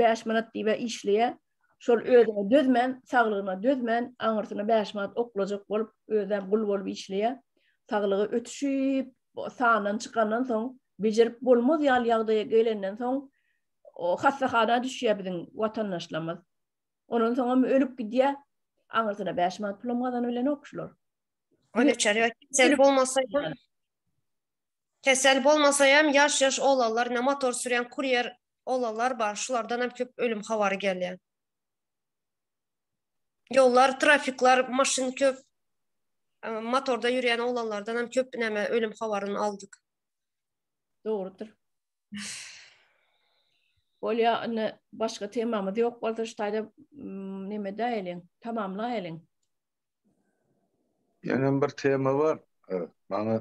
bäş manat diýibä işleýär. Şol özüne dözmän, saglygyna dözmän, aňyrsyna bäş manat oklajak bolup, özem gul bolup işleýär. Saglygy ötüşip, sandan çykandan soň, bejerip bolmaz ýaly ýagdaýa gelenden soň, hassahana düşýär biziň watandaşlarymyz. Ondan soň hem ölüp gidýär. Aňyrsyna 5 manat pulum gazanyp bilenok şular. Öyle içeri kesel bolmasa hem kesel bolmasa hem yaş yaş oğlanlar ne motor süren kuryer oğlanlar bar şulardan hem köp ölüm havarı gelýär. Yollar, trafikler, maşyn köp e, motorda yürüyen oğlanlardan hem köp neme ölüm havarını aldık. Doğrudur. Bolýa, indi başga temamyz ýok bolsa, şu taýda mm, neme däýeliň, tamamlaýalyň. Ýöne bir tema bar. Maňa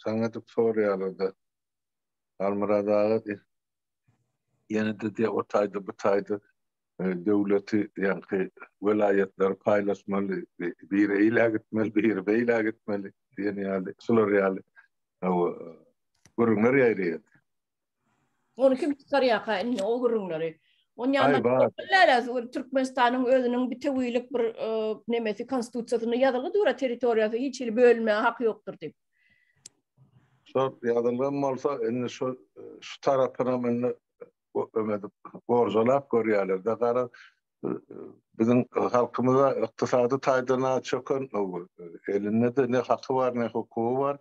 saňa edip soraýarlar-da. Almyrat aga, ýene-de diýe, o taýda, bu taýda döwleti ýaňky welaýatlary paýlaşmaly, biri eýlä gitmeli, biri beýlä gitmeli diýen ýaly, şular ýaly gürrüňler ýaýraýar. Ony kim çykarýarka indi o gürrüňleri? Türkmenistanyň özüniň bitewilik bir nemesi konstitusiýasynda ýazylgy dur-a territoriýasy hiç hili bölünmäge haky ýokdur diýip. Şol ýazylgan bolsa, indi şu şu tarapynam indi öňedip gorjalap görýärler-de gara biziň halkymyza ykdysady taýdan çöken elinde-de ne haky bar ne hukugy bar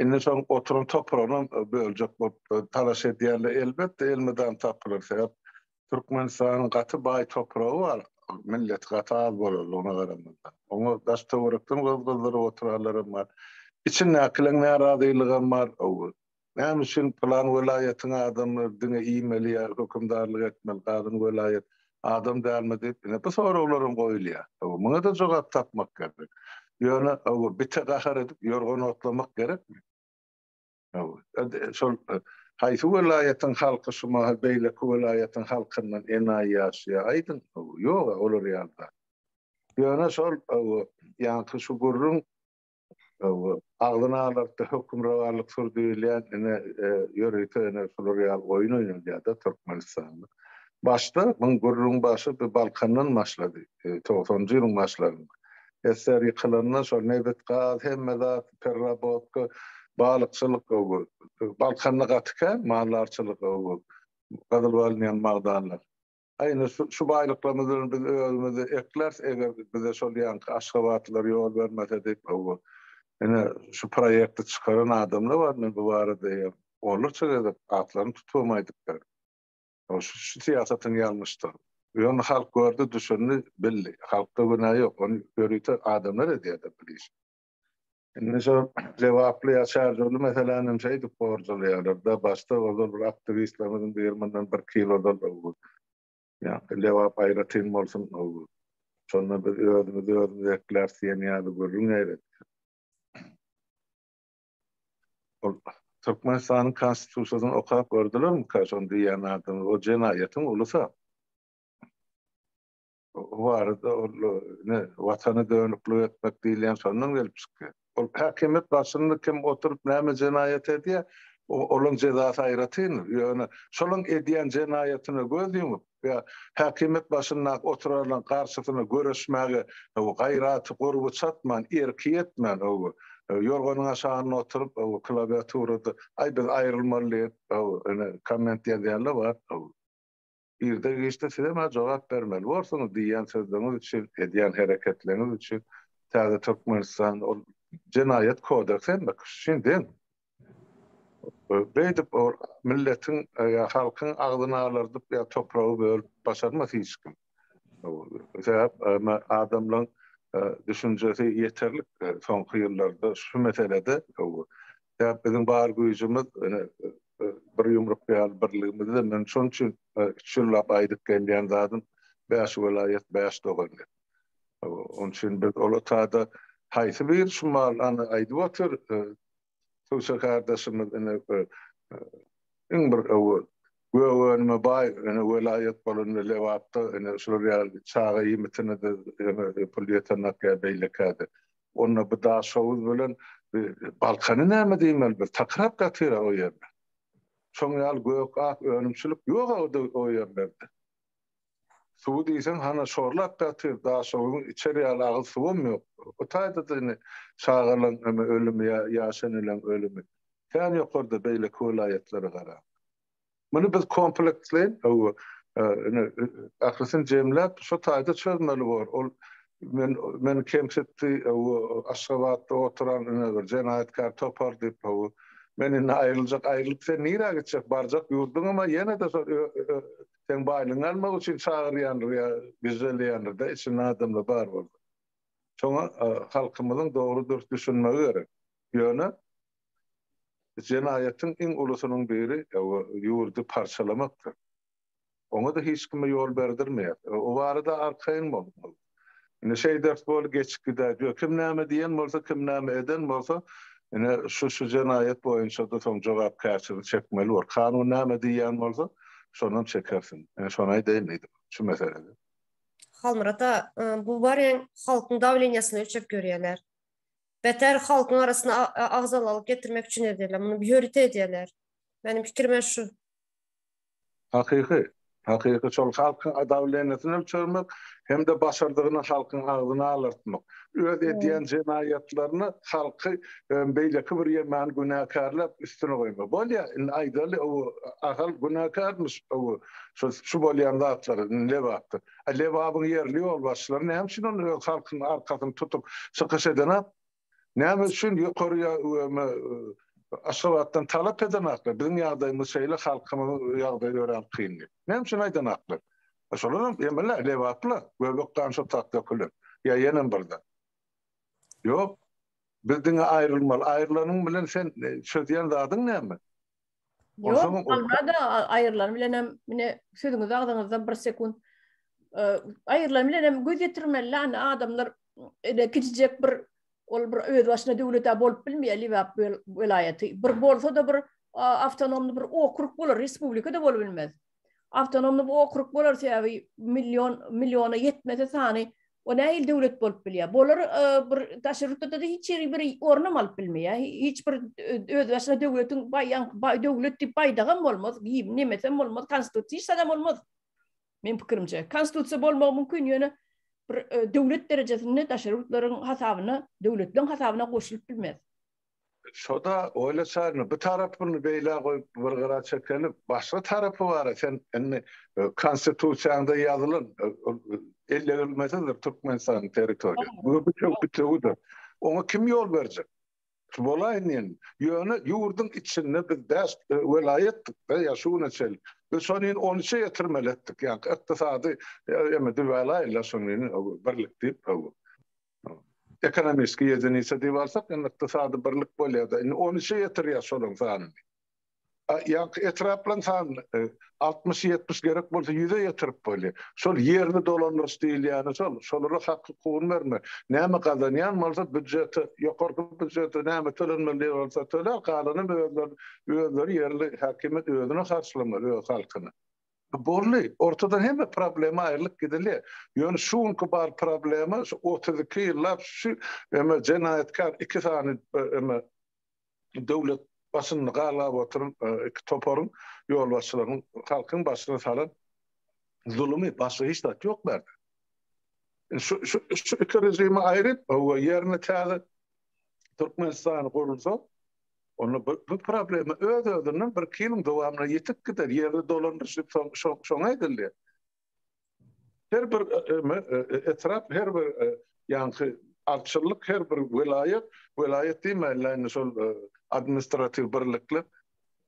indi şoň oturan topragynam böljek bolup talaş edýärler elbetde elmydam tapylar sebäp Türkmenistanyň gaty baý topragy bar millet gaty az bolanlygyna garamazdan oňa daş töwerekden gyz gyzdyryp oturanlaram bar içindäkileň närazylygam bar Näme üçin pylan welaýatyň adamlary diňe iýmeli ýa hökümdarlyk etmeli galan welaýat adam dälmi diýip ine bu soraglar hem goýulýar. Hawa muňa-da jogap tapmak gerek. Ýöne hawa bite gahar edip ýorgan otlamak gerekmi? Hawa şol haýsy welaýatyň halky şu mahal beýleki welaýatyň halkyndan enaýy ýaşaýar aýdyň? Hawa ýog-a olar ýaly zat. Ýöne şol hawa ýaňky şu gürrüň agzyny alartdy, hökümrowanlyk sur diýilýän, ine, ýörite ine şular ýaly oýun oýnalýar-da Türkmenistanda. Başda muň gürrüň başy bir Balkandan başlady, togsanjy ýylyň başlarynda. SSR ýykylanda şol nebit, gaz, hemme zat, perrabotka, balykçylyk, Balkanda gaty kän maldarçylyk, gyzyl alynýan magdanlar. Ine, şu baýlyklarymyz bilen biz özümizi ekläris, eger bize şol ýanky aşgabatlylar ýol bermese diýip, hawa. Ine, şu proýekti çykaran adamlar bar, men bu barada hem onlarça gezek atlaryny tutup hem aýdyp bilerin. Hawa, şu syýasatyň ýalňyşdygyny. Ýöne halk gördi, düşündi, bildi. Halkda günä ýok, ony ýörite adamlar edýär-de bu işi. Indi şu lebaply ýa şarjorly meseläni hem şeýdip gorjalaýarlar-da, başda ozal bir aktiwistlerimiziň biri mundan birki ýyl ozal bu ýa-da lebap aýratyn bolsun, şonda biz özümizi özümiz ekläris diýen ýaly gürrüň eýretdi. Ol Türkmenistanyň Konstitusiýasyny okap gördülermika şony diýýän adamy? O jenaýatyň ulusy-a. O barada ol ne watana dönüklik etmek diýilýän şondan gelip çykýar. Ol häkimiýet başynda kim oturyp näme jenaýat edýär, olaň jezasy aýratyndyr. Ýöne şolaň edýän jenaýatyna göz ýumup ýa häkimiýet başyndaky oturanlaň garşysyna göreşmäge gaýraty gurby çatman, erki ýetmän ýorganyň aşagynda oturyp klawiaturada aý biz aýrylmaly diýip komment ýazýanlar bar. Irde-giçde siz hem-ä jogap bermeli borsuňyz, diýýän sözleňiz üçin, edýän hereketleňiz üçin. Täze Türkmenistan, ol Jenaýat kodeksi hemme kişi üçin deň. Beýdip milletiň ýa halkyň agzyny alardyp ýa topragy bölüp başarmaz hiç kim. Sebäp adamlaryň düşünjesi ýeterlik soňky ýyllarda şu meselede Sebäp biziň bar güýjümiz bir ýumruk ýaly birligimizde. Men şonuň üçin üç ýyllap aýdyp gelýän zadym bäş welaýat, bäş dogan diýip. Onuň üçin biz ol otada haýsy biri şu mal ony aýdyp otyr, Tüwse kardeşimiz ine iň bir öwüt, gök önüme baý ine welaýat bolanda Lebapda ine şular ýaly çaga iýmitine-de pul ýetenak ýa beýlekä-de Onda bu Daşoguz bilen Balkany näme diýmeli biz? Takyrap ýatyr-a o ýerde. Şoň ýaly gök-ak önümçilik ýok-a o ýerlerde. Suwy diýseň hana şorlap ýatyr, Daşoguzyň içer ýaly agyz suwam ýok. O taýda-da indi çagalaň ölümi ýa ýaş eneleň ölümi. Kän ýokarda beýleki welaýatlara garaň. Muny biz kompleksli, ine, ählisini jemläp, şo taýda çözmeli bolar. Ol men, meni kemsitdi, Aşgabatda oturan ine bir jenaýatkär topar diýip, men indi aýryljak, aýrylyp sen nirä gitjek, barjak ýurduňam-a ýene-de şo seň baýlygyňy almak üçin çagyrýandyr ýa güjjeleýändir-dä, içinde adamlar bar bolsa. Şoňa halkymyzyň dogry-dürs düşünmegi gerek. Ýöne Jenaýatyň iň ulusynyň biri ýurdy parçalamakdyr. Oňa-da hiç kime ýol berdirmeýäs. O barada arkaýyn bol. Indi şeý dert bol, geçip gidäýdi we kim näme diýen bolsa, kim näme eden bolsa, ine, şu-şu jenaýat boýunça-da soň jogapkärçilik çekmeli bor. Kanun näme diýýän bolsa, şonam çekersiň. Men şony aýdaýyn diýdim şu meselede. Halmyrat aga, bu barýan halkyň dawleniýasyny ölçep ýörýärler. Beter halkyň arasyna agzalalyk getirmek üçin edýärler. Muny ýörite edýärler. Meniň pikirime şu. Hakyky. Hakyky şol halkyň dawleniýasyny ölçermek hem-de başardygyny halkyň agzyna alartmak. Öz edýän jenaýatlaryny halky beýleki bir ýermäni günäkärläp üstüne goýmak. Bolýa indi aýdaly ow Ahal günäkärmiş ow şu bolýan zatlar lebapdyr. A Lebabyň ýerli ýolbaşçylary näme üçin onda öz halkynyň arkasyny tutup çykyş edenok? Näme üçin ýokary Aşgabatdan talap edenoklar? Biziň ýagdaýymyz şeýle, halkymyzyň ýagdaýy örän kyn diýip. Näme üçin aýdanoklar? Şolar hem emelä lebaplar, göbek gan şo tat dökülen. Ýa ýenem birden. Ýok. Biz diňe aýrylmaly. Aýrylanyň bilen sen çözýän zadyň näme? Ýok, almada aýyrylany bilen hem mine sözüňiz agzyňyzda bir sekunt aýyrylany bilen hem göz ýetirmeli anda adamlar ele kiçijek bir ol bir öz başyna döwlete bolup bilmeýär Lebap welaýaty. Bir bolsa-da bir awtonomny bir okrug bolar, respublika-da bolup bilmez. Awtonomny bu okrug bolar sebäbi million milliona ýetmese sany o näme il döwlet bolup bilýär. Bolar e, bir daşary ýurtda da hiç ýeri bir ornam alyp bilmeýär. Hiç bir e, öz başyna döwletiň baýan baý döwlet diýip baýdagam bolmaz, giýim nemesem bolmaz, konstitusiýa hiç zadam bolmaz. Men pikirimçe, konstitusiýa bolmagy mümkin, ýöne bir e, döwlet derejesinde daşary ýurtlaryň hasabyna, döwletleriň hasabyna goşulyp bilmez. Şoda oýla çaryny bu tarapyny beýle goýup bir gyra çekelip başga tarapy bara sen indi konstitusiýaňda ýazylan ellegrilmesizdir Türkmenistanyň territoriýasy. Bu bütew bütewidir. Oňa kim ýol berjek? Şu bolaýyn indi. Ýöne ýurduň içinde biz bäş welaýatdykda ýa şu güne çenli biz şony indi on üçe ýetirmeli etdik. Ýa ykdysady ýa düwälaýyl-la şony indi birlik diýip. Ekonomistki ýediniçe diýip alsak, indi ykdysady birlik bolýar-da. Indi on üçe ýetirýär şolaryň sanyny. A ýaňky etraplaryň sanyny altmyş-ýetmiş gerek bolsa ýüze ýetirip bolýar. Şol ýerli dolandyryş diýilýäni şol. Şolara hak-hukugyny bermek. Näme gazanýan bolsa býujete, ýokarky býujete näme tölenmeli diýen bolsa töler, galanam özleri, özleri ýerli häkimiýet özüne harçlamaly öz halkyny. Bolly, ortadan hemme problema aýrylyp gidilýär. Ýöne şu günki bar problema şu otuz iki ýyllap şu eme jenaýatkär iki sany eme döwlet başynda galgap oturan iki toparyň ýolbaşçylarynyň halkyň başyna salan zulumy başga hiç zat ýok bärde. Şu şu şu iki režimi aýryp we ýerine täze Türkmenistan gurulsa Onda bu bu problema öz-özünden bir iki ýylyň dowamynda ýetip gider. Ýerli dolandyryşyk soň soň şoňa edildi. Her bir e, e, e, e, etrap, her bir e, ýaňky arçyllyk, her bir welaýat, welaýat diýmäýin, şol e, administratiw birlikler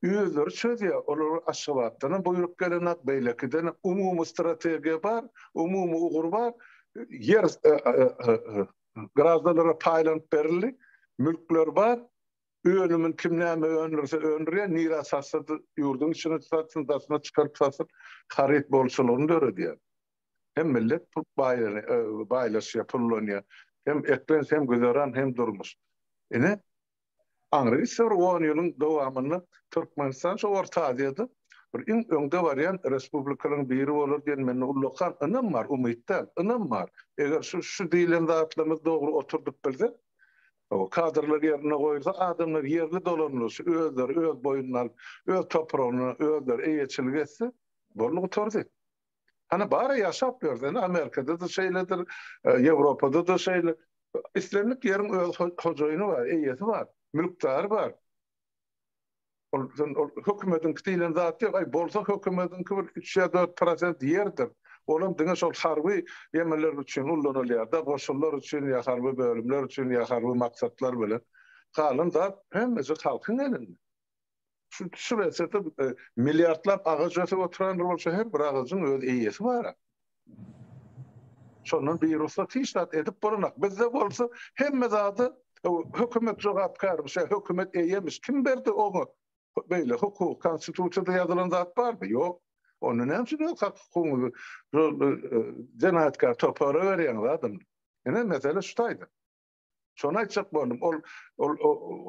özleri çözýär. Olar Aşgabatdan hem buýruk gelenak, beýlekiden hem umumy strategiýa bar, umumy ugur bar. Ýer e, e, e, e Graždanlara paýlanyp berildi. Mülkler bar. Önümin kim näme öndürse öndürýär, nirä satsa ýurduň içine satsyn, daşyna çykaryp satsyn, haryt bolçulygyny döredýär. Hem millet baýlaşýar, pullanýar. Hem eklenç, hem güzeran, hem durmuş. Ine, Aňryýsa bir on ýylyň dowamynda Türkmenistan şu Orta Aziýada bir iň öňde barýan respublikalaryň biri bolar diýen mende ullakan ynam bar, umyt däl, ynam bar. Eger şu, şu diýlen zatlarymyzy dogry oturdyp bilsek, o kadrlar ýerine goýulsa, adamlar ýerli dolanylar, şu özleri öz boýnuna alyp, öz topragyna özleri eýeçilik etse, boldy gutardy. Hany bara ýaşap ýörsen, Amerikada-da şeýledir, Ýewropada-da şeýle. Islendik ýeriň öz hojaýyny bar, eýesi bar, mülkdary bar. Ol hökümetiňki diýlen zat ýok. Aý, bolsa hökümetiňki bir üç ýa dört prosent ýerdir. Olam diňe şol harby ýemeler üçin ulanylýar-da, goşunlar üçin ýa harby bölümler üçin ýa harby maksatlar bilen. Galan zat hemmesi halkyň elinde. Şu şu etsede e, milliardlap agaç ösüp oturan bolsa her bir agajyň öz eýesi bar. Şondan bir ruhsa hiç zat edip bolanak. Bizde bolsa hemme zady e, hökümet jogapkar, şu hökümet eýemiş. Kim berdi oňa? Beýle hukuk, konstitusiýada ýazylan zat barmy? Ýok. Onda näme üçin öz hak hukugyňyzy jenaýatkar topara berýäňiz adam? Ene mesele şu taýda. Şony aýtjak boldum. Ol ol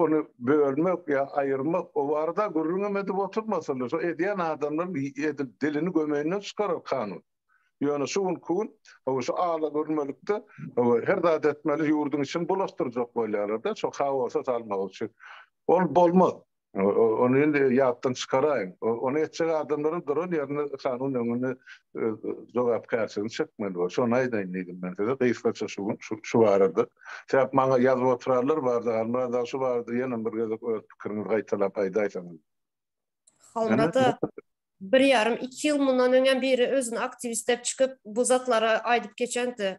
ony bölmek ýa aýyrmak o barada gürrüň hem edip oturmasalar, şo edýän adamlaryň edil dilini gömeýinden çykarar kanun. Ýöne şu günki gün hawa şu alagürmelikde hawa her zat etmeli, ýurduň içini bulaşdyrjak bolýarlar-da, şo haosa salmak üçin. Ol bolmaz. Ony indi ýatdan çykaraýyň. Ony etjek adamlaryň duran ýerinde kanun öňünde öz jogapkärçiligini çekmeli bolar. Şony aýdaýyn diýdim men size gysgaça şu gün şu barada. Sebäp maňa ýazyp oturarlar bardy, Halmyrat aga şu barada ýene bir gezek öz pikiriňizi gaýtalap aýdaýsaňyz. Halmyrat aga bir ýarym, iki ýyl mundan öňem biri özüni aktiwist diýip çykyp bu zatlary aýdyp geçendi.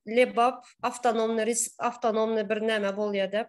Lebap awtonomny, awtonomny bir näme bolýar diýip.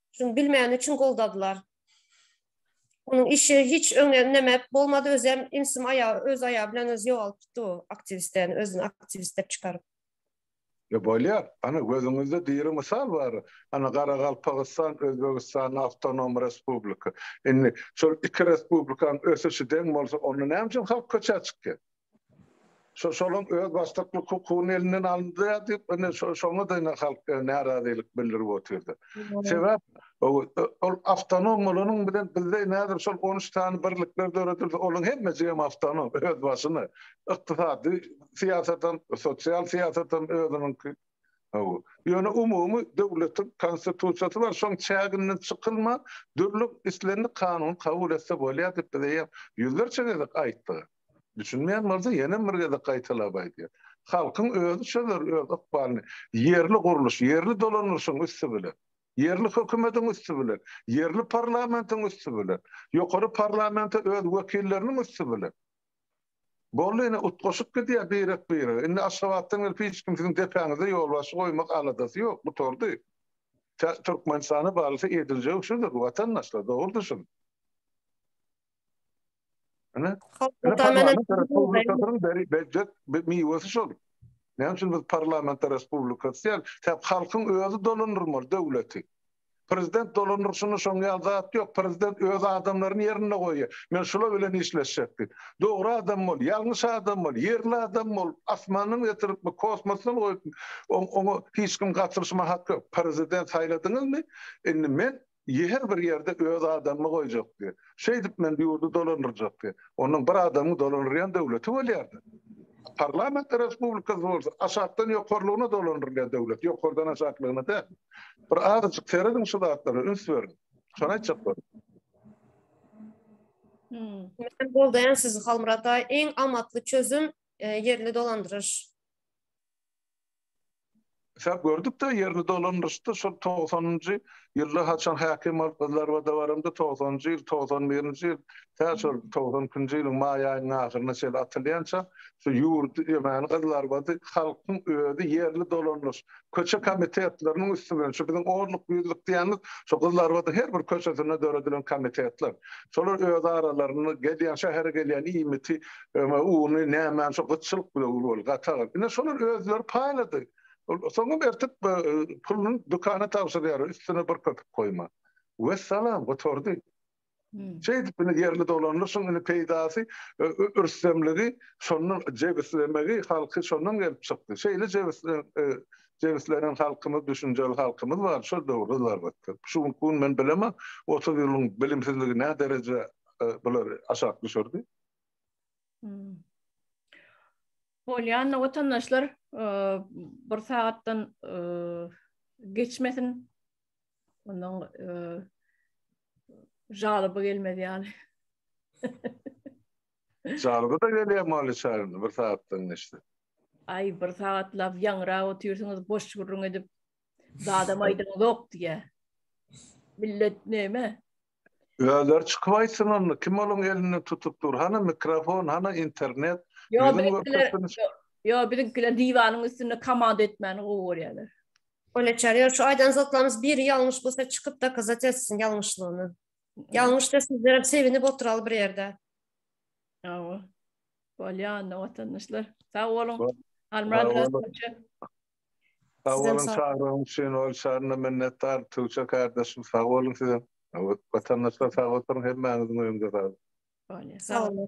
Şuny bilmegini üçin goldadylar. Onuň işi hiç öňe ündemep bolmady, özem imsim aýagy öz aýagy bilen özi ýogalyp gitdi bu aktiwistden, özüni aktiwist dep çykaryp. Ýa bolýar. Ana gözüňizde diri mysal bar. Ana Garagalpagystan, Özbegistan awtonom respublika. Indi şol iki respublikanyň ösüşi deň bolsa onda näme üçin halk köçä çykýar? Şo şonuň öz başlyklyk hukugyny elinden alyndy diýip, indi şoňa da indi halk närazylyk bildirip otyrdy. Sebäp ol awtonom bolanyň bilen bizde nädip şol on üç sany birlikler döredildi, olaryň hemmesi hem awtonom, öz başyna. Ykdysady syýasat hem, sosial syýasat hem özüniňki. Hawa. Ýöne umumy döwletiň konstitusiýasy bar, şoň çäginden çykylman, dürli islendik kanuny kabul etse bolýar diýip, bize ýa ýüzlerçe gezek aýtdylar. Düşünmeýän bolsa ýenem bir gezek gaýtalap aýdýan. Halkyň özi çözer öz ykbalyny. Ýerli gurluş, ýerli dolanylşyň üsti bilen. Ýerli hökümediň üsti bilen. Ýerli parlamentiň üsti bilen. Ýokary parlamente öz wekilleriniň üsti bilen. Boldy ine utgaşyp gidýär birek birege. Indi Aşgabatdan gelip hiç kim siziň depäňize ýolbaşçy goýmak aladasy ýok gutardy. Tä Türkmenistana barylsa ediljegi şudur watandaşlar dogrudyr şuny. Ana, ana parlament respublikasynyň beri bejet miwesi şol. Näme üçin biz parlament respublikasy diýen? Sebäbi halkyň özi dolandyrmaly döwleti. Prezident dolandyrşyny şoň ýaly zat ýok. Prezident öz adamlaryny ýerinde goýýar. Men şular bilen işleşjek diýip. Dogry adam bol, ýalňyş adam bol, ýerli adam bol, asmandan getiripmi, kosmosdan goýupmy, oňa hiç kim gatyryşma haky ýok. Prezident saýladyňyzmy? Indi men Her bir ýerde öz adamyny goýjakdy. Şeýdip men ýurdy dolandyrjakdy. Onuň bir adamyň dolandyrýan döwleti bolýardy. Parlament respublikasy bolsa aşakdan ýokarlygyna dolandyrylýan döwlet, ýokardan aşaklygyna däl. Bir azajyk serediň şu zatlara, üns beriň. Şony aýtjak boldum. Men goldaýan sizi Halmyrat aý. Iň amatly çözüm ýerli dolandyryş. Şap gördük-de, ýerini dolandyryşdy. Şol togsanynjy ýylda haçan häkim bolup biz Larwada baramda, togsanynjy ýyl, togsan birinji ýyl, tä şol togsan ikinji ýylyň maý aýynyň ahyryna çenli atylýança şu ýurt, ýömäni gyz Larwady halkyň özi ýerli dolandyryş, köçe komitetleriniň üsti bilen, şu biziň onluk-ýüzlük diýýänimiz, şu gyz Larwadyň her bir köçesinde döredilen komitetler. Şolar öz aralarynda gelýän, şähere gelýän iýmiti, öňe uny, nämäni şo gytçylyk bilen uly bolup, gatag. Ine, şolar özleri paýlady. Soňam ertir puluny dükana tabşyrýar, üstüne bir köpük goýman. Wessalam, gutardy. Şeýdip, indi ýerli dolandyryşyň indi peýdasy, rüstemligi, şondan jebislemegi, halky şondan gelip çykdy. Şeýle jebislemek, Jebislenýän halkymyz, düşünjeli halkymyz bar, şol döwürde zarbatdyr. Şu günki gün men bilemok, otuz ýylyň bilimsizligi nä dereje bulary aşak düşürdi. Bolýan watandaşlar bir sagatdan geçmesin. Ondan jalyby gelmez ýaly. Çalgy-da gelýär Molly Çarlini bir sagatdan geçse. Aý, bir sagatlap ýaňyrap otyrsyňyz, boş gürrüň edip, zadam aýdyňyzok diýýä. Millet näme? Özleri çykyp aýtsyn onda, kim olaň elinde tutup dur, hana mikrofon, hana internet, ýüzün görkezsin. Ýok, biziňkiler diwanyň üstünde komanda etmäni gowy görýärler. Molly Çar, ýok, şu aýdan zatlaryňyz biri ýalňyş bolsa, çykyp dokazat etsin ýalňyşlygyny. Ýalňyşda sizler hem sevinip oturaly bir ýerde. Ýa-o. Bolýa onda watandaşlar. Sag boluň. Almyrat Rasulça. Sag boluň, çagyryň üçin ol şanyna minnetdar. Tuwça kardeşim, sag boluň size. Watandaşlar sag oturyň, hemmäňiziň öýüňize sag. Bolýa. Sag boluň.